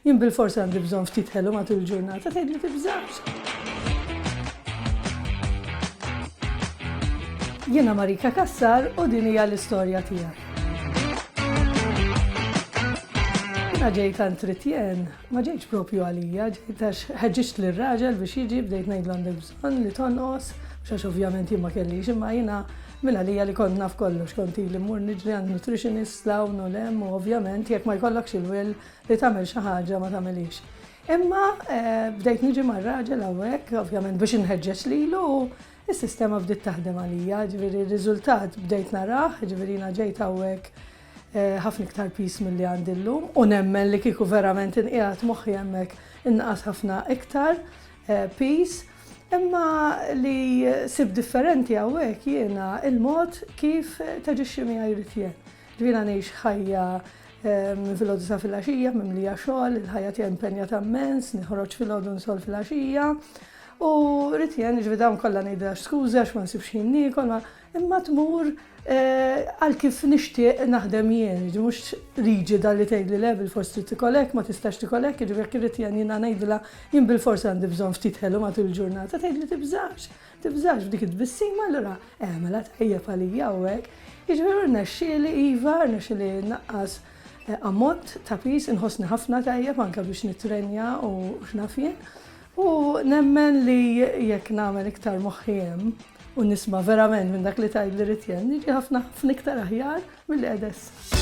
Jien bilfors għandi bżonn ftit ħelu matul il-ġurnata, tgħidli tibżax. Jiena Marika Kassar u din hija l-istorja tiegħek. Jiena ġejt għand Tritjen, ma ġejtx propju għalija, ġejt għax ħeġġiġt lir raġel biex jiġi bdejt ngħidlu għandek bżonn li tonqos, xax ovvjament jien ma kellix imma jiena minn għalija li kont naf kollox, kont li mmur niġri għand nutritionist lawn u lem u ovvjament jekk ma jkollokx il-will Li tagħmel xi ħaġa ma tagħmilhiex. Imma bdejt niġi mar-raġel hawnhekk, ovvjament biex inħeġġeġ lilu, is-sistema bdiet taħdem għalija, ġifieri r-riżultat bdejt narah, ġifieri jiena ġejt hawnhekk eh, ħafna iktar pis milli għandi llum u nemmen li kieku verament inqiegħed moħħi hemmhekk inqas ħafna iktar eh, pis. Imma li sib differenti hawnhekk jiena il-mod kif taġixxi miegħi jrid jien. Jiena ngħix ħajja minn filgħodu sa filgħaxija mimlija xogħol, il-ħajja tiegħi impenjata mmens, niħroġ filgħodu nsolv filgħaxija. U rrid jien jiġri dawn kollha ngħidilha skużi għax ma nsibx ħin niekol, imma tmur eh, għal kif nixtieq naħdem jien, jiġri mhux riġida li tgħidli le bil-fors trid tikolek, ma tistax tikolek, jiġri jekk irrid jien jiena ngħidilha jien bil-fors għandi bżonn ftit ħelu matul il-ġurnata, tgħidli tibżax. Tibżax b'dik it-tbissima allura eh mela tajjeb għalija hawnhekk. Jiġifieri rnexxieli iva, rnexxieli nnaqqas ammont ta' piż, inħossni ħafna tajjeb anke biex nittrenja u x'naf jien. U nemmen li jekk nagħmel iktar moħħi hemm u nisma' verament minn dak li tgħidli rrid jien, niġi ħafna ħafna iktar aħjar milli qiegħda issa.